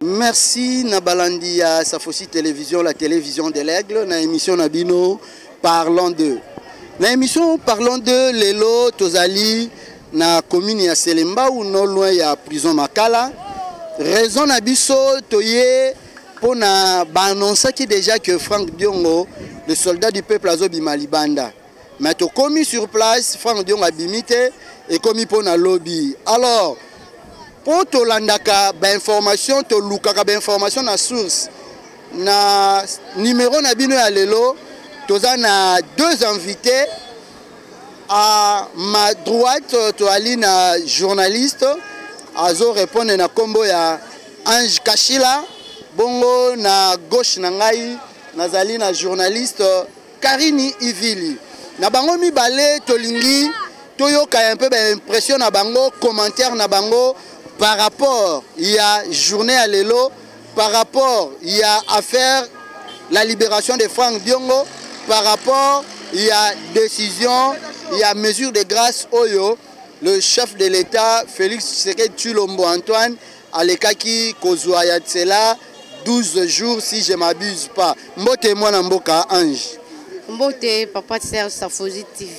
Merci na balandi ya Safosi Télévision, la télévision de l'aigle, na émission na bino Parlons de. Na émission Parlons de lelo tozali na commune ya Selembao non loin ya prison Makala. Raison na biso toye pona ba annoncaki déjà que Franck Diongo, le soldat du peuple azobima libanda. mais tokomi sur place frank diongo abimi te ekomi mpo na lobi alors mpo tolandaka bainformation tolukaka bainformation na source na numero na bino ya lelo toza na deux invités à ma droite toali na journaliste azo répondre na nkombo ya ange kashila bongo na gauche na ngai nazali na journaliste Karini Ivili na bango mibale tolingi toyoka un peu ba impression na bango commentaire na bango par rapport ya journée ya lelo par rapport ya affaire la libération de Franck Diongo par rapport ya décision ya mesure de grâce oyo le chef de l'État Félix Tshisekedi Tshilombo Antoine alekaki kozwa ya nsela 12 jours si je m'abuse pas mbote mwana mboka ange mbote papa serge safozi tv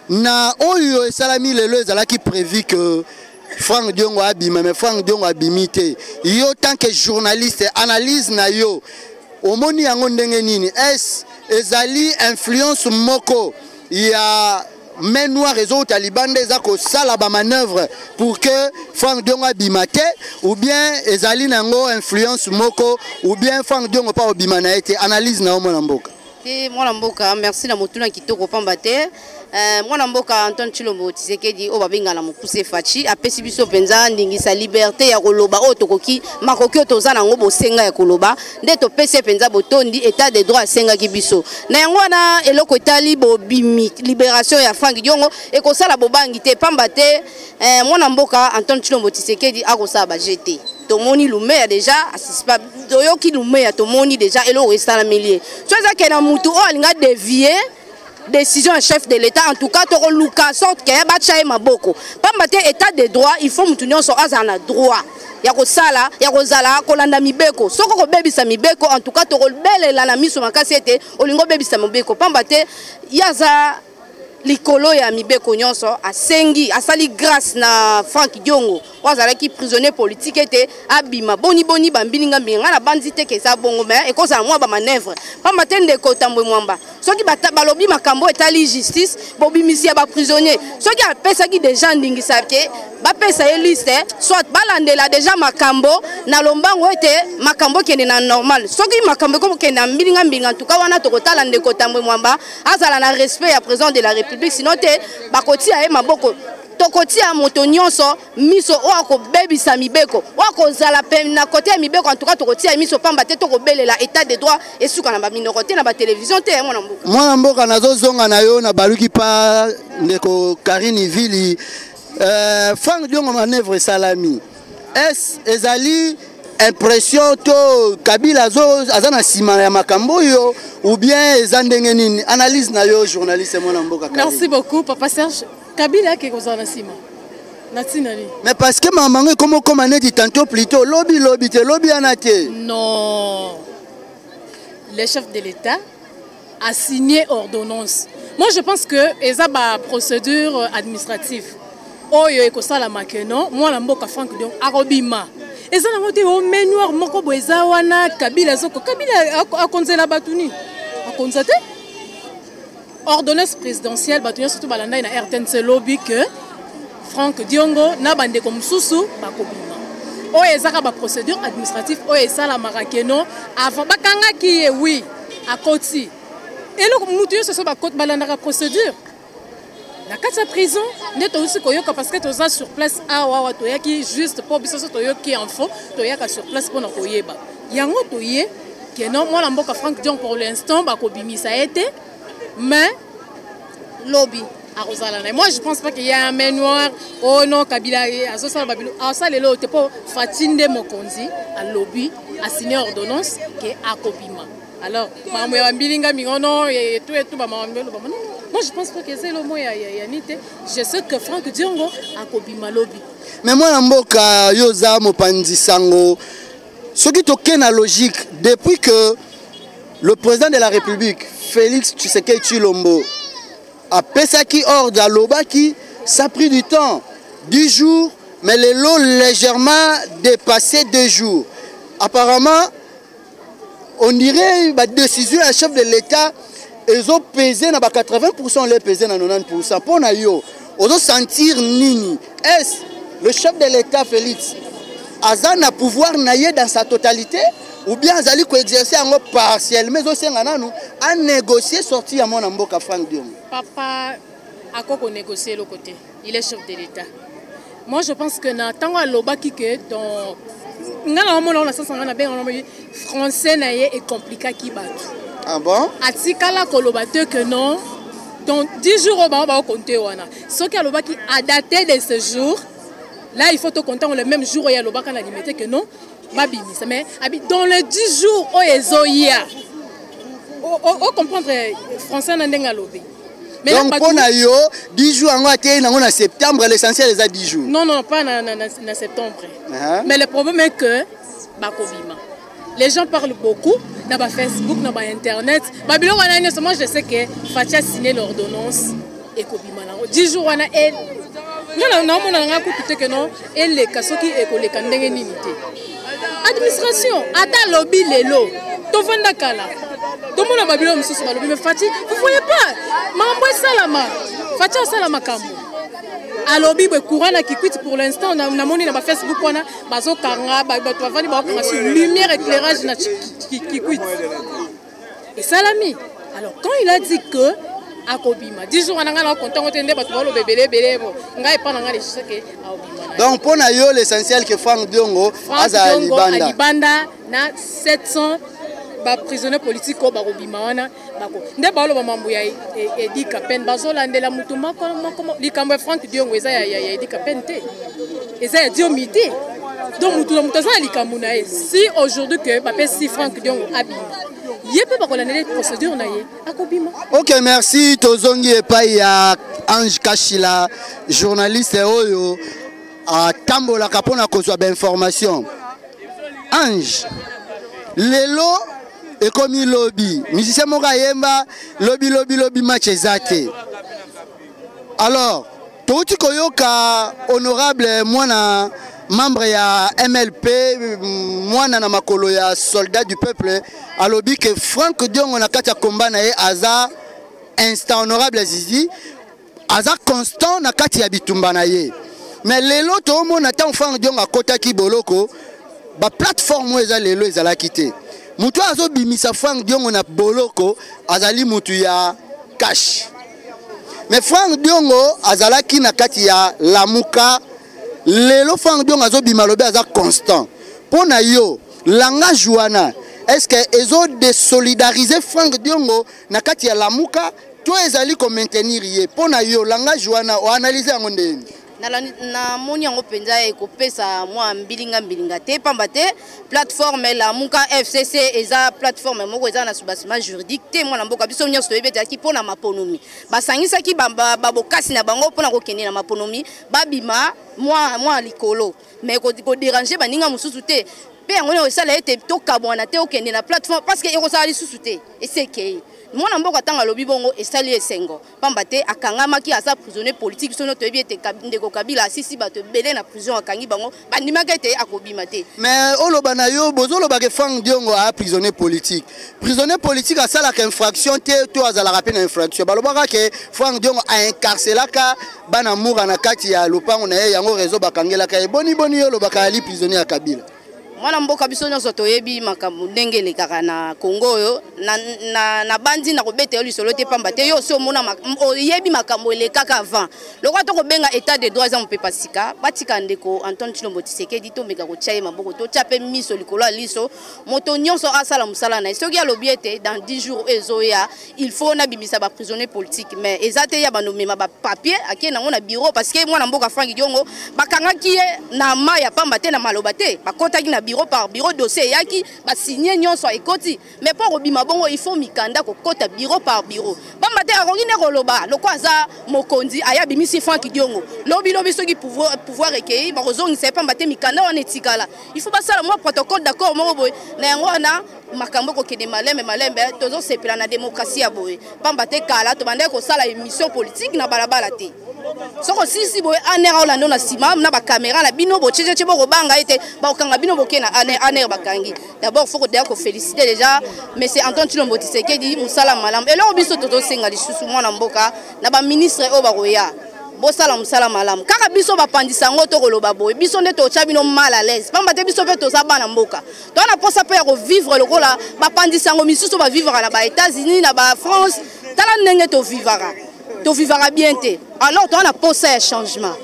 na oyo esalami lelo ezalaki prévu que frank diongo abima mais frank diongo abimi te yo tant que journaliste analyse na yo omoni yango ndenge nini est ezali influence moko ya main noire ezowuta libanda eza kosala bamanœuvre pour que frank diongo abima te ou bien ezali na yango influence moko ou bien frank diongo mpa obima na ye te analyse na yo mwana mboka te mwana mboka merci na motuna kitoko pamba te eh, mwana mboka antone chilombo tisekedi oyo babenga na mokuse faci apesi biso mpenza ndingisa liberte ya koloba oyo tokoki makoki oyo toza na yango bosenga ya koloba nde topesi ye mpenza botondi etat de droit asengaki biso na yango wana eloko etali bobimi liberation ya frank diongo ekosala bobangi te pamba te eh, mwana mboka antone chilombo tisekedi akosala baje te tomoni lumeya deja asisipa toyoki lumeya tomoni deja eloko esalameli ye so ezake na motu oyo alinga devie décision ya chef de l'état en tout cas tokoluka sorte ke batya ye maboko mpamba te état de droit il faut moto nyonso azala na droit ya kosala ya kozala kolanda mibeko soki okobebisa mibeko en tout cas tokobelela na miso makasi ete olingi obebisa mibeko mpamba te ye aza likolo ya mibeko nyonso asengi asali grâce na frank diongo oyo azalaki prisonnier politique ete abima boni boni bambilinga mbinga ngai nabanzi te ke eza bongo me ekozala mwa bamanœuvre mpamba te ndeko tambwe mwamba soki balobi makambo etali justice bobimisi ya baprisonnier soki apesaki deja ndingisa ke bapesa ye liste soit balandela deja makambo na lombango ete makambo ekende na normal soki makambo ekokende na mbilinga mbinga ntuka wana tokotala ndeko tambwe mwamba azala na respect ya président de la république sino te bakotia ye maboko tokotia moto nyonso miso oyo akobebisa mibeko oyo akozala pene na kote ya mibeko antuka tokotia miso mpamba te tokobelela etat de droit esuka na baminoko te na batelevizio te mwana mboka mwana mboka nazozonga na yo nabaluki mpa ndeko karine vili euh, frank diongo manœuvre esalami es ezali impression to kabila aza na nsima ya makambo oyo ou bien eza ndenge nini analyse na yo journaliste mwana mboka merci beaucoup papa serge Kabila ake kozala na sima. Na tina ni. Mais parce que maman ngo comme comme neti tantôt plutôt lobby lobby te lobby ana te. Non. Le chef de l'État a signé ordonnance. Moi je pense que eza ba procédure administrative. Oyo ekosalama que non, moi la mboka Franck Dion akobima. eza nango te o menoir moko boye eza wana kabila azoko kabila akonzela bato nini akonza te Ordonnance présidentielle bato nyonso to balandaki na RTNC lobi que Franck Diongo na bandeko mosusu bakobima oyo ezaka ba procédure administrative oyo esalamaka keno avant bakangaki ye wi akoti eloko motu nyonso so balandaka procédure na kati ya prison nde tousi koyoka parce que toza sur place awa awa toyaki juste mpo biso so toyoki info toyaka sur place mpo na koyeba yango toye que non mwana mboka frank dion pour l'instant bakobimisa ye te mais lobi akozala na moi je pense pas qu'il y a un main noir oh non kabila azosala babilo asalela oyo te mpo fati nde mokonzi alobi asigne ordonnance ke akobima alors makambo ya bambilinga mingo non etu etu bamakambo eloba non moi je pense pas que eza elomo ya yani te je sais que frank diongo akobima lobi mais mwana mboka yo oza mopanzi sango soki tokei na logique depuis que le président de la république félix tshisekedi tshilombo apesaki ordre alobaki ça pris du temps 10 jours mais lelo légèrement dépassé 2 jours apparemment on dirait badécision ya chef de l'état ezopese na ba 80 pourcent ole epese na 90 pourcent mpo na yo ozo sentir nini est ce le chef de l'état félix aza na pouvoir na ye dans sa totalité ou bien azali koexerce yango partiellement ezosenga nanu anégocie sorti ya mwana mboka frank diongo papa ako konégocie eloko te il est chef de l'état Moi je pense que na tango alobaki que dans nga na omona ona sasa nga na benga na français na ye e complikaki bato. Ah bon? Atikala koloba te que non dans 10 jours oyo bango bakokonte wana soki alobaki adate de ce jour là il faut tokontango le même jour oyo alobaka na limete que non babimisa mais abi dans les 10 jours oyo ezoya ocomprendre français na ndenge alobi donc mpo na yo 10 jours yango ateyi nango na septembre l'essentiel eza 10 jours non non pas na, na, na, na septembre uh -huh. mais le problème est que bakobima les gens parlent beaucoup na bafacebook na bainternet babiloko wana nyonso moi je sais que fatia signe l'ordonnance ekobima nango 10 jours wana e nga naomona na ngai kutu te ke no eleka soki ekoleka ndenge nini te administration ata alobi lelo tovanda kala tomona babilo mosusu balobi me fati vous voyez pas mambo esalama fati asala makambo alobi boye courant na kikwiti pour l'instant namoni na bafacebook wana bazokanga bato bavandi bakokanga sur lumière éclairage na kikwiti esalami alors quand il a dit que akobima 10 jours wana ngai na konta ngo te nde bato baloba ebele ebele bo ngai epa na ngai lisusu ke akobima donc mpo na yo l'essentiel ke frank diongo azala libanda libanda na 700 baprisonnier politique oyo bakobima wana bako nde baoloba mambo ya e, e, edi kapene bazolandela motu moko moko likambo ya frank diongo eza ya edi kapene te eza ya diomi te donc motu na motu aza na likambo na ye si aujourd'hui que bapesi frank diongo abima ye mpe bakolandela procédure na ye akobima ok merci tozongi epai ya ange kashila journaliste oyo atambolaka mpo na kozwa bainformation ange lelo ekomi lobi musicien moko ayemba lobi lobi lobi match eza te alors Touti koyoka honorable mwana membre ya MLP mwana na makolo ya soldat du peuple alobi que Franck Diongo na kati ya combat na ye aza instant honorable Zizi aza constant na kati ya bitumba na ye mais lelo toomona ntango Franck Diongo akotaki boloko ba plateforme oyo eza lelo ezalaki te moto oyo azobimisa Franck Diongo na boloko azali moto ya cash mais frank diongo azalaki na kati ya lamuka lelo frank diongo azobima alobi aza constant mpo na yo langage wana estce que ezodesolidarize frank diongo na kati ya lamuka to ezali komaintenir ye mpo na yo langage wana oanalyse yango ndeni namoni yango mpenza ekopesa mwa mbilinga mbilinga te mpamba te plateforme lamuka fcc eza plateforme moko eza na soubassement juridique te mwana mboka biso nyonso toyebi etalaki mpo na maponomi basangisaki babokasi na bango mpo na kokende na maponomi babima mwa likolo mais koderange baninga mosusu te mpe yango nio esala ete tokabwana te okende na plateforme parce que ekozala lisusu te esekei mwana mboka ntango alobi bongo esali esengo pamba te akangamaki aza prisonnier politique biso no toyebi ete ndeko kabila asisi bato ebele na prison akangi bango bandimaki ete akobima te mais oloba na yo bozolobaka frank diongo aya prisonnier politique prisonnier politique asalaka infraction te to azalaka mpe na infraction balobaka ke frank diongo aincarcelaka bana mura na kati ya lopango na ye yango reseau bakangelaka ye boni boni yo olobaka ali prisonnier ya kabila mwana mboka biso nyonso toyebi makambo ndenge elekaka na kongo oyo nabanzi na kobeta yo lisolo te mpamba te yo osi omona oyebi makambo elekaka avant lokola tokobenga état de droit eza mopepa sika batika ndeko antone chilombo tisekedi tomeka kotya ye maboko totya mpe miso likolo ya liso moto nyonso asala mosala na ye soki alobi ete dans 10 jours oyo ezoya il faut nabimisa baprisonnier politique mais eza te ya banomema bapapier akei nango na bureau parce que mwana mboka frank diongo bakangaki ye na ma ya pamba te na maloba te bakotaki na bureau par bureau dossier eyaki basigne nyonso ekoti mais mpo kobima bongo il faut mikanda kokota bureau par bureau pamba te akoki nde koloba loko aza mokonzi aya abimisi frank diongo lobilobi soki pouvoir ekei bakozongisa ye pamba te mikanda wana etikala il faut basala mwa protocole d'accord moko boye na yango wana makambo ekokende malembe malembe tozosepela na demokrasi ya boye mpamba te kala tobandaki kosala émission politique na balabala te soko silisi boye aner aolanda na nsima na bakamera na bino bocecece bokobanga ete bakokanga bino boke na aner aner bakangi dabord fo kodeya kofélicité déjà monsieur anton cilombo tisekedi mosala malamu eloko biso tozosenga lisusu mwana mboka na baministre oyo bakoya bosala mosala malamu kaka biso bapanzisa yango tokoloba boye biso nde totya bino mal à l'aise mpamba te biso mpe toza bana mboka toza na mposa mpe ya kovivre lokola bapanzi sango misusu bavivaka na ba états-unis na ba france tala ndenge tovivaka tovivaka bien te alors toza na mposa ya changement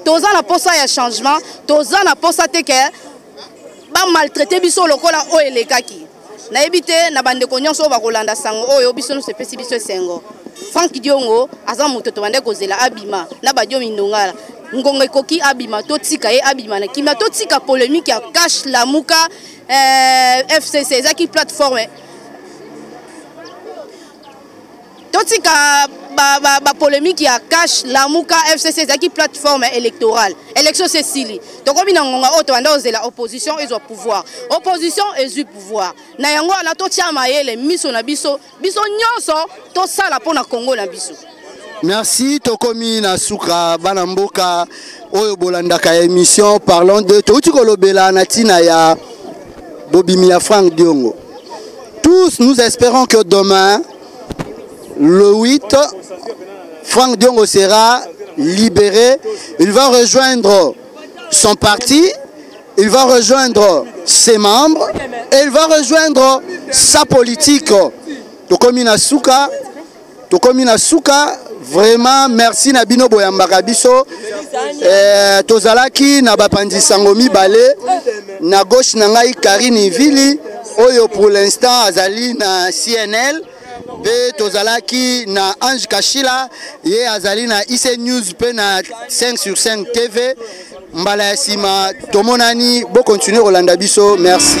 toza na mposa ya changement toza na mposa te ke bamaltraite biso lokola oyo elekaki nayebi te na bandeko nyonso oyo bakolanda sango oyo biso nyonso epesi biso esengo frank diongo aza moto tobandaki kozela abima na badio mindongala ngonga ekoki abima totika ye abima na kimia totika polemique ya cash lamuka eh, fcc ezaki plateforme totika bapolémike ba, ba ya cash lamuka fcc ezalaki plateforme électorale élection se esili tokomi na ngonga oyo tobanda kozela opposition ezwa pouvoir opposition ezwi pouvoir na yango wana totya mayele miso na biso biso nyonso tosala mpo na kongo na biso merci tokomi na suka bana mboka oyo bolandaka émission parlons de touti kolobela na ntina ya bobimi ya frank diongo tous nous espérons que demain le 8 frank diongo sera libéré il va rejoindre son parti Il va rejoindre ses membres et il va rejoindre sa politique. Tokomi na suka, tokomi na suka, vraiment merci na bino boyambaka biso eh, tozalaki na bapanzi sango mibale na gauche na ngai Karine Vili oyo pour l'instant azali na CNL mpe tozalaki na ange kashila ye azali na ic news mpe na 5 sur 5 tv mbala ya nsima tomonani bokontinue kolanda biso merci